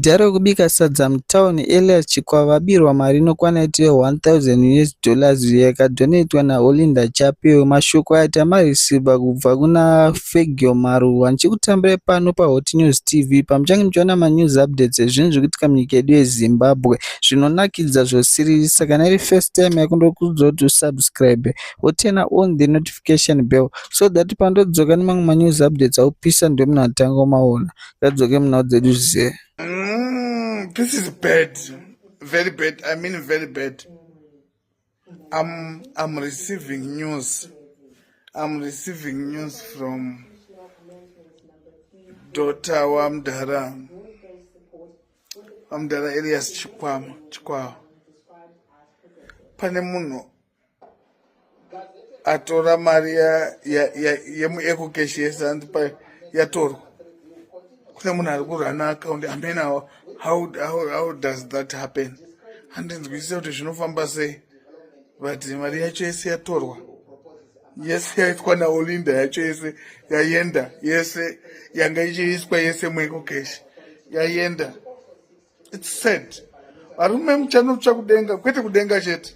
Zita rekubika sadza mutown Elias Chikwa vabirwa mari inokwana iti ye 1000 US dollars iyo yakadonetwa naOlinda Chapeo. Mashoko aya tamareceiver kubva kuna Fegio Maruwa. Ndichikutambirai pano paHot News TV pamuchange muchiona manews updates ezvinhu zviri kuitika munyika yedu yeZimbabwe zvinonakidza zvosiririsa. Saka kana iri first time yako ndokuudzwa kuti usubscribe woturna on the notification bell so that pandodzoka nemamwe manews updates aupisa ndiwe munhu atanga umaona. Tadzoke munhau dzedu zvise. Mm, this is bad. Very bad. I mean very bad. I'm I'm receiving news. I'm receiving news from daughter wamdara wamdara Elias Chikwama Chikwawa. Pane munhu atora mari yemuecocash yese anzi pa yatorwa kune munhu ari kurana akaundi amen how, how, how does that happen handinzwisisa kuti zvinofamba sei but mari yacho yese yatorwa yese yaitwa naolinda yacho yese yayenda yese yanga ichiiswa yese muecocash yayenda its sad varume muchanotsva kudenga kwete kudenga chete